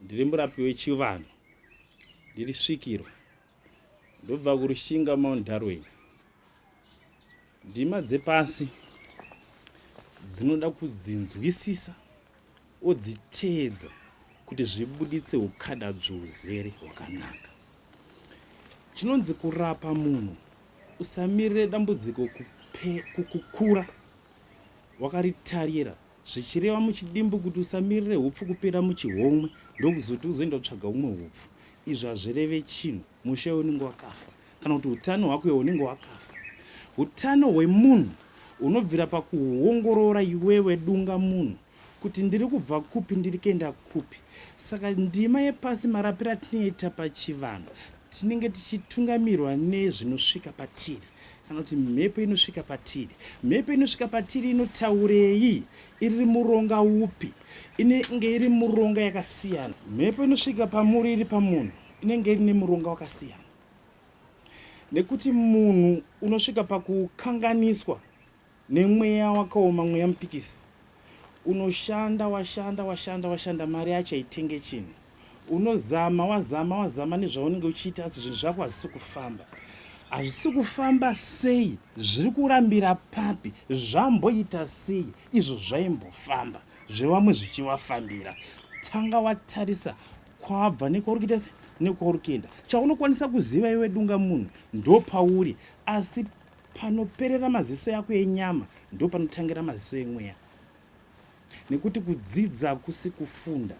Ndiri murapi wechivanhu, ndiri svikiro, ndobva kurushinga Mount Darwin. Ndima dzepasi dzinoda kudzinzwisisa odziteedza kuti zvibuditse ukada dzvuzere hwakanaka. Chinonzi kurapa munhu usamirire dambudziko kukura wakaritarira zvichireva muchidimbu kuti usamirire hupfu kupera muchihomwe ndokuzoti uzoenda kutsvaga umwe hupfu izvi hazvireve chinhu mushe unenge wakafa kana kuti utano hwako iwe unenge wakafa utano hwemunhu unobvira pakuongorora iwewe dunga munhu kuti ndiri kubva kupi ndiri kuenda kupi saka ndima yepasi marapiro atinoita pachivanhu tinenge tichitungamirwa nezvinosvika patiri kana kuti mhepo inosvika patiri mhepo inosvika patiri inotaurei iri muronga upi inenge iri muronga yakasiyana mhepo inosvika pamuri iri pamunhu inenge iri nemuronga wakasiyana nekuti munhu unosvika pakukanganiswa Nemweya wakaoma mweya mupikisi unoshanda washanda washanda washanda mari yacho haitenge chinhu unozama wazama wazama nezvaunenge uchiita asi zvinhu zvako hazvisi kufamba hazvisi kufamba sei zviri kurambira papi zvamboita sei izvo zvaimbofamba zvevamwe zvichivafambira tanga watarisa kwabva nekwauri kuita se nekwauri kuenda chaunokwanisa kuziva iwe dunga munhu ndopauri asi Panoperera maziso yako enyama ndo panotangira maziso emweya nekuti kudzidza hakusi kufunda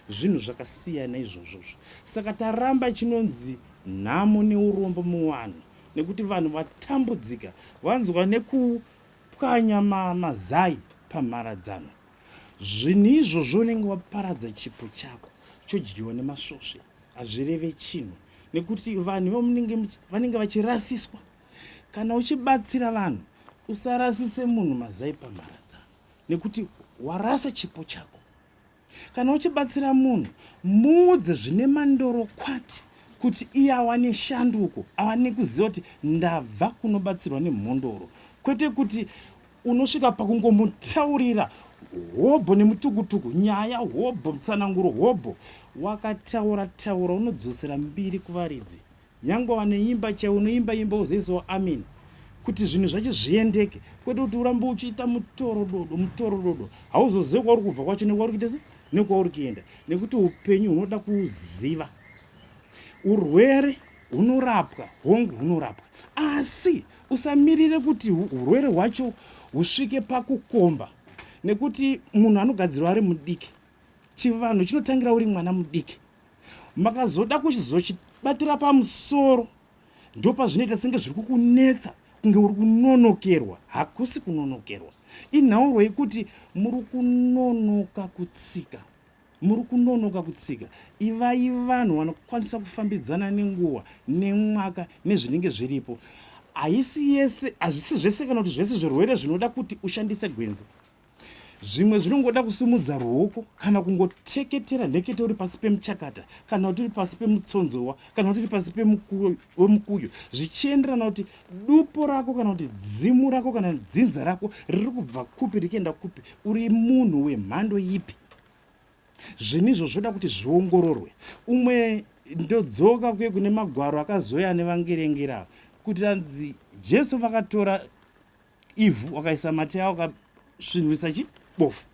zvinhu zvakasiyana izvozvozvo saka taramba chinonzi nhamo neurombo muvanhu nekuti vanhu vatambudzika vanzwa nekupwanya mazai pamharadzano zvinhu izvozvo unenge waparadza chipo chako chodyiwa nemasvosve hazvireve chinhu nekuti vanhu vamunenge vanenge vachirasiswa Kana uchibatsira vanhu usarasise munhu mazai pamharadzano nekuti warasa chipo chako. Kana uchibatsira munhu muudze zvine mandoro kwati kuti iye awane shanduko awane kuziva kuti ndabva kunobatsirwa nemhondoro kwete kuti unosvika pakungomutaurira hobho nemutukutuku nyaya hobho mutsananguro hobho wakataura taura unodzosera mbiri kuvaridzi Nyangwe waneimba chaiwo unoimba imba uzoisawo amen kuti zvinhu zvacho zviendeke kwete kuti urambe uchiita mutorododo mutorododo hauzozive kwauri kubva kwacho nekwauri kuita se nekwauri kuenda nekuti upenyu hunoda kuziva urwere hunorapwa hongu hunorapwa asi usamirire kuti urwere hwacho husvike pakukomba nekuti munhu anogadzirwa ari mudiki chivanhu chinotangira uri mwana mudiki makazoda kuchizochibatira pamusoro ndopazvinoita senge zviri kukunetsa kunge uri kunonokerwa hakusi kunonokerwa inhauro yekuti muri kunonoka kutsika muri kunonoka kutsika ivai vanhu vanokwanisa kufambidzana nenguva nemwaka nezvinenge zviripo haisi yese hazvisi zvese kana kuti zvese zvirwere zvinoda kuti ushandise gwenzi zvimwe zvinongoda kusimudza ruoko kana kungoteketera nhekete uri pasi pemuchakata kana kuti uri pasi pemutsonzowa kana kuti uri pasi pemukuyo zvichienderana kuti dupo rako kana kuti dzimu rako kana dzinza rako riri kubva kupi richienda kupi uri munhu wemhando ipi zvinhu izvo zvoda kuti zviongororwe umwe ndodzoka kuye kune magwaro akazoya nevangerengera kuti ranzi jesu vakatora ivhu wakaisa mate yawo ukasvinhurisa chi bofu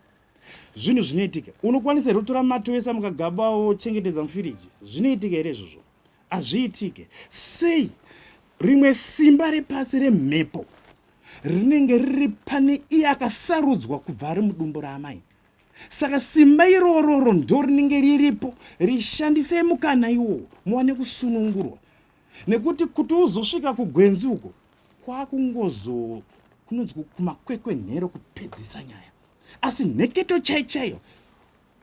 zvinhu zvinoitika unokwanisa here kutora mate wese mukagaba wochengetedza mufiriji zvinoitika here izvozvo hazviitike sei rimwe simba repasi remhepo rinenge riri pane iye akasarudzwa kubva ari mudumbu raamai saka simba irororo ndo rinenge riripo rishandisei mukana iwowo muwane kusunungurwa nekuti kuti uzosvika kugwenzi uko kwakungozo kunonzi kumakwekwenhero kupedzisa nyaya asi nheketo chaichaiyo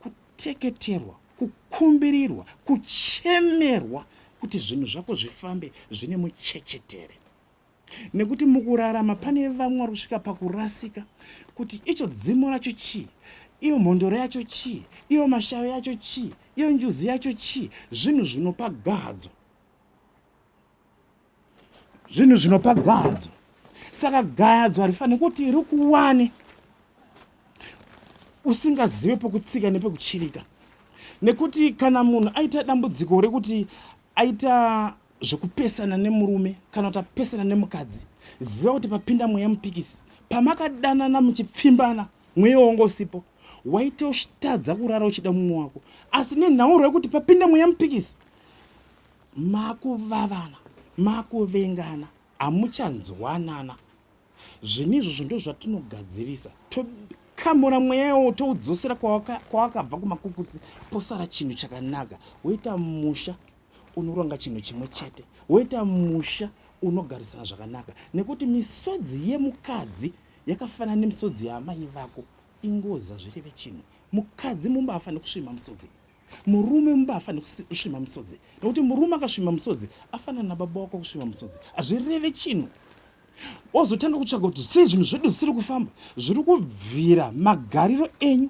kuteketerwa kukumbirirwa kuchemerwa kuti zvinhu zvako zvifambe zvine muchechetere nekuti mukurarama pane vamwe vari kusvika pakurasika kuti icho dzimo racho chii iyo mhondoro yacho chii iyo mashayo yacho chii iyo njuzi yacho chii zvinhu zvinopa gadzo zvinhu zvinopa gadzo saka gadzo harifanire kuti rikuwane usingazive pokutsika nepekuchirika nekuti kana munhu aita dambudziko rekuti aita zvekupesana nemurume kana kuti apesana nemukadzi ziva kuti papinda mweya mupikisi pamakadanana muchipfimbana mweya wanga usipo waite uchitadza kurara uchida mumwe wako asi nenhauro yekuti papinda mweya mupikisi makuvavana makuvengana hamuchanzwanana zvinhu izvozvo ndo zvatinogadzirisa tokamura mweya iwowo toudzosera kwawakabva kumakukutsi posara chinhu chakanaka woita musha unoronga chinhu chimwe chete woita musha unogarisana zvakanaka nekuti misodzi yemukadzi yakafanana nemisodzi yaamai vako ingoza zvireve chinhu mukadzi mumba afanire kusvima misodzi murume mumba afanire kusvima musodzi nokuti murume akasvima musodzi afanana nababa wako kusvima musodzi hazvireve chinhu ozotanga kutsvaga kuti sei zvinhu zvedu zvisiri kufamba zviri kubvira magariro enyu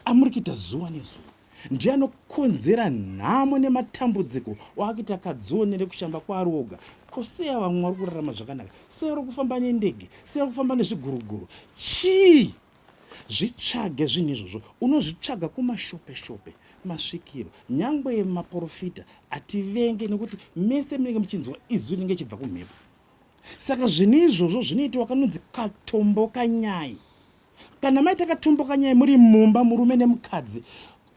amuri kuita zuva nezuva ndiye anokonzera nhamo nematambudziko waakuita kadzionere kushamba kwaari oga ko sei ava mwari kurarama zvakanaka sei ari kufamba nendege sei ari kufamba nezviguruguru chii Zvitsvage zvinhu izvozvo, unozvitsvaga kumashopeshope, masvikiro, nyangwe maporofita hativenge nekuti mese munenge muchinzwa izwi rinenge chibva kumhepo. Saka zvinhu izvozvo zvinoitiwa kanonzi katomboka nyai. Kana maita katomboka nyai muri mumba murume nemukadzi,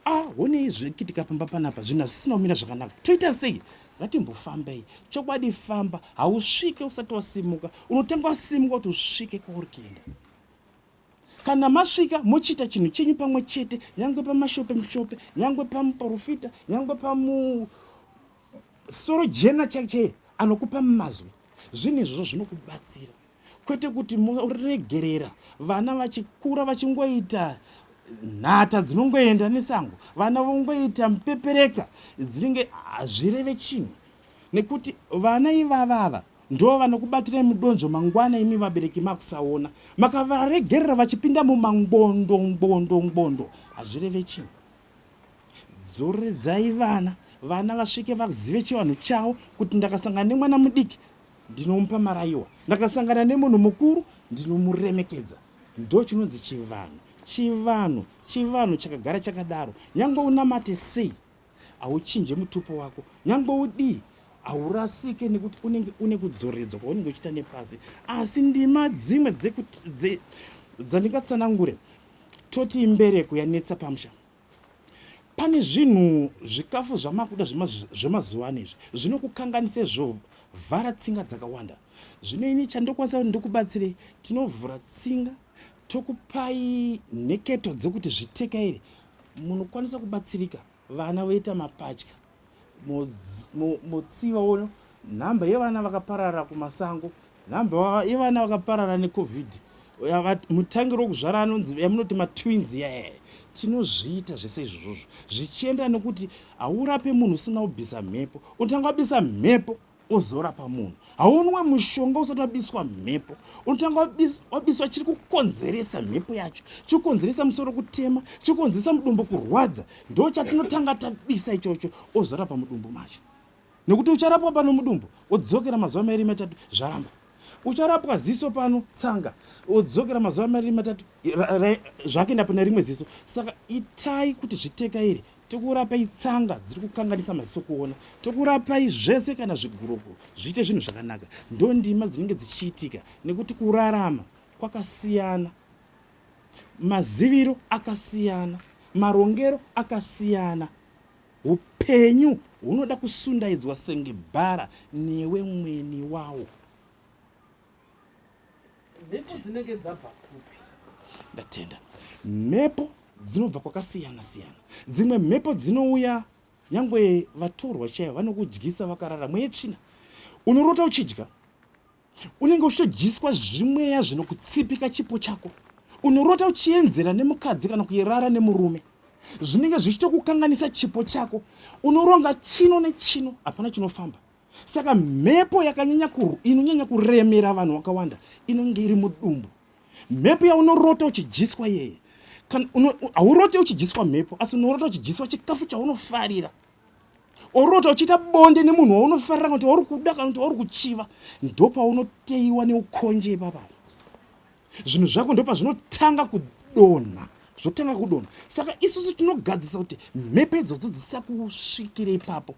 ah honei zvekuitika pamba panapa zvinhu hazvisina kumira zvakanaka toita sei ngatimbofambei chokwadi famba hausvike usati wasimuka unotanga wasimuka kuti usvike kwauri kuenda kana masvika mochiita chinhu chenyu pamwe chete nyangwe pamashope mushope nyangwe pamuprofita nyangwe pamu soro jena chaichee anokupa mazwi zvinhu izvozvo zvinokubatsira kwete kuti moregerera vana vachikura vachingoita nhata dzinongoenda nesango vana vongoita mupepereka dzinenge hazvireve chinhu nekuti vana ivavava Ndoo vanokubatirai mudonzvo mangwana imi vabereki makusaona. Makavaregerera vachipinda mumangondo ngondo ngondo. Hazvireve chinhu. Dzoredzai vana vana vasvike vazive chivanhu chavo kuti ndakasangana nemwana mudiki ndinomupa marayiwa ndakasangana nemunhu mukuru ndinomuremekedza ndo chinonzi chivanhu chivanhu chivanhu chakagara chakadaro nyange unamate sei hauchinje mutupo wako nyangwe udii haurasike nekuti unenge une kudzoredzwa kwaunenge uchiita nepasi asi ndima dzimwe dzandingatsanangure toti imbereko yanetsa pamusha pane zvinhu zvikafu zvamakuda zvemazuva ano izvi zvinokukanganise zvo vhara tsinga dzakawanda zvino ini chandokwanisa kuti ndikubatsirei tinovhura tsinga tokupai nheketo dzekuti zvitekairi Munokwanisa kubatsirika vana voita mapatya motsiva wono nhamba yevana vakaparara kumasango nhamba yevana vakaparara necovid mutangiro wekuzvara anonzi yamunoti matwins yayaye tinozviita zvese izvozvozvo zvichienda nekuti haurape munhu usina kubvisa mhepo unotanga wabisa mhepo ozorapa munhu haunwe mushonga usati wabiswa mhepo unotanga wabiswa chiri kukonzeresa mhepo yacho chiri kukonzeresa musoro kutema chiri kukonzeresa mudumbu kurwadza ndo chatinotanga tabisa ichocho ozorapa mudumbu macho nekuti ucharapwa pano mudumbu odzokera mazuva mairi matatu zvaramba ucharapwa ziso pano tsanga odzokera mazuva mairi matatu zvake ndapona rimwe ziso saka itai kuti zvitekairi tokurapai tsanga dziri kukanganisa maziso kuona tokurapai zvese kana zviguroko zviite zvinhu zvakanaka ndondima dzinenge dzichiitika nekuti kurarama kwakasiyana maziviro akasiyana marongero akasiyana upenyu hunoda kusundaidzwa senge bhara newe mweni wawo mhepo dzinenge dzabva kupi ndatenda mhepo dzinobva kwakasiyana siyana dzimwe mhepo dzinouya nyangwe vatorwa chaivo vanokudyisa vakarara mweya tsvina unorota uchidya unenge uchitodyiswa zvimweya zvinokutsipika chipo chako unorota uchienzera nemukadzi kana kuyerara nemurume zvinenge zvichitokukanganisa chipo chako unoronga chino nechino hapana chinofamba saka mhepo yakanyanya kuru inonyanya kuremera vanhu wakawanda inonge iri mudumbu mhepo yaunorota uchidyiswa yeye haurote uchidyiswa mhepo asi unorota uchidyiswa chikafu chaunofarira orota uchiita bonde nemunhu waunofarira kana kuti wauri kuda kana kuti wauri kuchiva ndopaunoteiwa neukonje ipapaa zvinhu zvako ndopazvinotanga kudonha zvotanga kudonha saka isusu tinogadzisa kuti mhepo idzodzo dzisakusvikire ipapo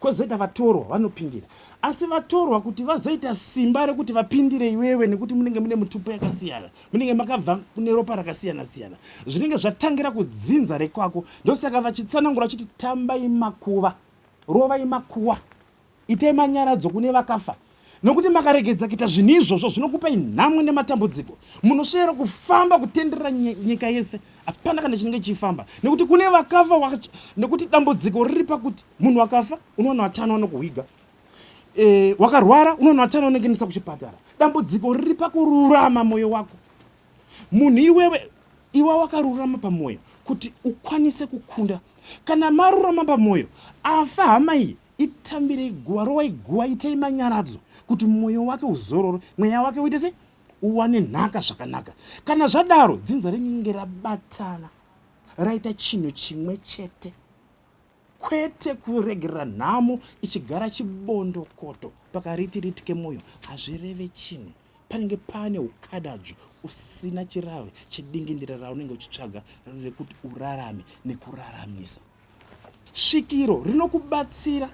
kozoita vatorwa vanopindira asi vatorwa kuti vazoita simba rekuti vapindire iwewe nekuti munenge mune mutupo yakasiyana munenge makabva kune ropa rakasiyana siyana zvinenge zvatangira kudzinza rekwako ndosaka vachitsanangura vachiti tambai makuva rovai makuwa itai manyaradzo kune vakafa nokuti makaregedza kuita zvinhu izvozvo zvinokupai nhamo nematambudziko munosvera kufamba kutenderera nyika yese hapana kana chinenge chichifamba nekuti kune vakafa wacho nekuti dambudziko riri pakuti munhu wakafa unoona vatano vanokuhwiga e, wakarwara unoona vatano vanokuendesa kuchipatara dambudziko riri pakururama mwoyo wako munhu iwewe iwa wakarurama pamwoyo kuti ukwanise kukunda kana marurama pamwoyo afa hama iyi Itambirei guva, rovai guva, itai manyaradzo kuti mwoyo wake uzorore, mweya wake uite se uwane nhaka zvakanaka. Kana zvadaro, dzinza rinenge rabatana raita chinhu chimwe chete, kwete kuregerera nhamo ichigara chibondokoto pakariti riti kemwoyo. Hazvireve chinhu, panenge pane ukadadzvo usina chirave chedingindira raunenge uchitsvaga rekuti urarame nekuraramisa. Svikiro rinokubatsira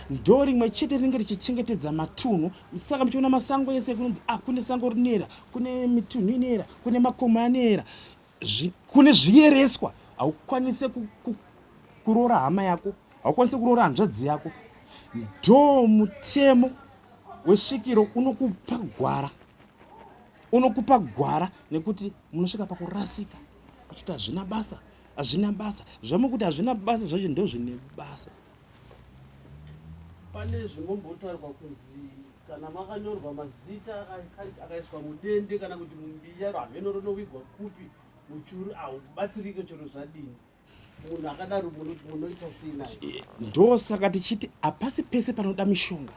ndo rimwe chete rinenge richichengetedza matunhu saka muchiona masango ese kunonzi ah kune sango rinoera kune mitunhu inoera kune makomo anoera kune zviyereswa haukwanise kuroora hama yako haukwanise kuroora hanzvadzi yako ndo mutemo wesvikiro unokupa gwara unokupa gwara nekuti munosvika pakurasika uchiti hazvina basa hazvina basa zvamukuti hazvina basa zvacho ndo zvine basa pane zvingombotaurwa kunzi kana makanyorwa mazita akaiswa mudende kana kuti mumbiya hameno rinowigwa kupi muchuru haubatsirike chero zvadini munhu akadaro munoita sei naye ndosaka tichiti hapasi pese panoda mishonga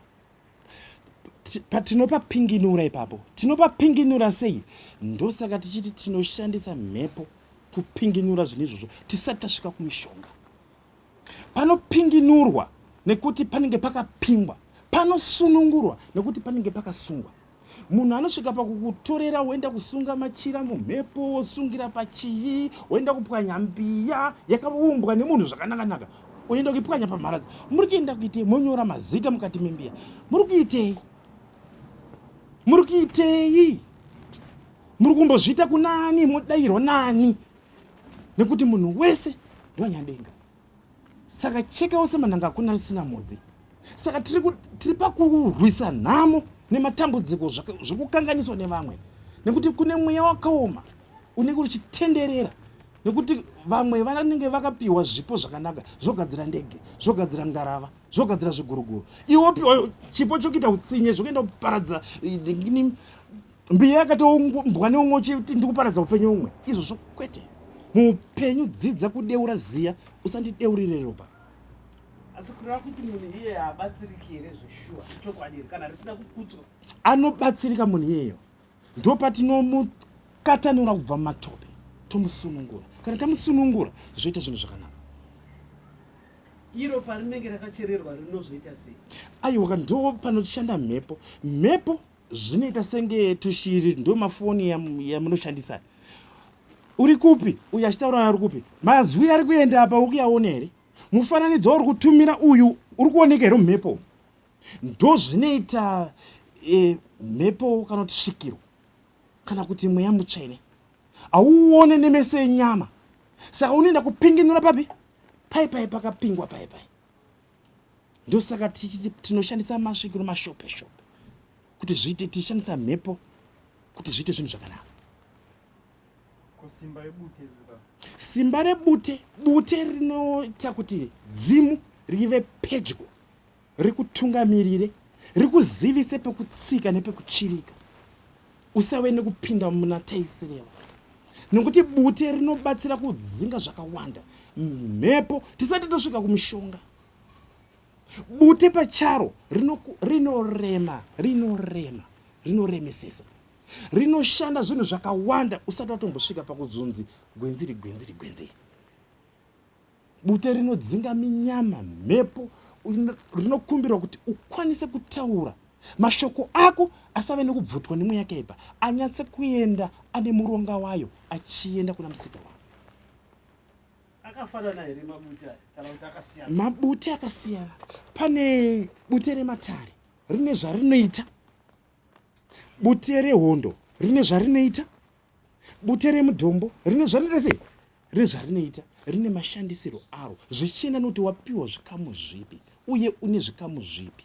patinopa pinginura ipapo tinopa pinginura sei ndosaka tichiti tinoshandisa mhepo kupinginura zvinhu izvozvo tisati tasvika kumishonga panopinginurwa nekuti panenge pakapingwa panosunungurwa nekuti panenge pakasungwa munhu anosvika pakukutorera woenda kusunga machira mumhepo wosungira pachii woenda kupwanya mbiya yakaumbwa nemunhu zvakanakanaka oenda kuipwanya pamharadza muri kuenda kuitei monyora mazita mukati membiya muri kuitei muri kuitei muri kumbozviita kunani modairwa nani nekuti munhu wese ndoanyadenga saka cheka ose manhanga akuna risina mhodzi saka tiri pakurwisa nhamo nematambudziko zvekukanganiswa nevamwe nekuti kune mweya wakaoma unenge uchitenderera nekuti vamwe vanenge vakapiwa zvipo zvakanaka zvogadzira ndege zvogadzira ngarava zvogadzira zviguruguru iwopi chipo chokuita utsinye zvokuenda kuparadza eh, mbiya yakatoumbwa neumwe uchiti ndikuparadza upenyu umwe izvozvo kwete muupenyu dzidza kudeura ziya usandideurire ropa asi kureva kuti munhu iyeyo haabatsiriki here zveshuwa chokwadi here kana risina kukudzwa anobatsirika munhu iyeyo ndo patinomukatanura kubva mumatope tomusunungura kana tamusunungura zvoita zvinhu zvakanaka iro parinenge rakachererwa rinozoita sei aiwa ndo panoshanda mhepo mhepo zvinoita senge tushiri ndo mafoni yamunoshandisa ya uri kupi uyu achitaura ari kupi mazwi ari kuenda apa ukuyaona here mufananidzo wauri kutumira uyu uri kuoneka here mhepo ndo zvinoita e, mhepo kana kuti svikiro kana kuti mweya mutsvene hauone nemeso enyama saka unoenda kupinginura papi pai pai pakapingwa pai pai ndosaka tichiti tinoshandisa masvikiro mashope shope kuti zviite tichishandisa mhepo kuti zviite zvinhu zvakanaka simba rebute bute rinoita kuti dzimu rive pedyo rikutungamirire rikuzivise pekutsika nepekuchirika Usave nekupinda muna taisireva nokuti bute rinobatsira kudzinga zvakawanda mhepo tisati tosvika kumushonga. Bute pacharo rinorema rinorema rinoremesesa rinoshanda zvinhu zvakawanda usati watombosvika pakudzunzi gwenziri gwenziri gwenziri. Bute rinodzinga minyama, mhepo, rinokumbirwa kuti ukwanise kutaura mashoko ako asave nekubvutwa nemweya yakaipa anyatse kuenda ane muronga wayo achienda kuna musika wavo akafanana here mabute kana kuti akasiyana mabute akasiyana pane bute rematare rine zvarinoita bute rehondo rine zvarinoita Bute remudombo rine zvarinoita sei? Rine zvarinoita, rine mashandisirwo aro zvichienda nokuti wapiwa zvikamu zvipi uye une zvikamu zvipi.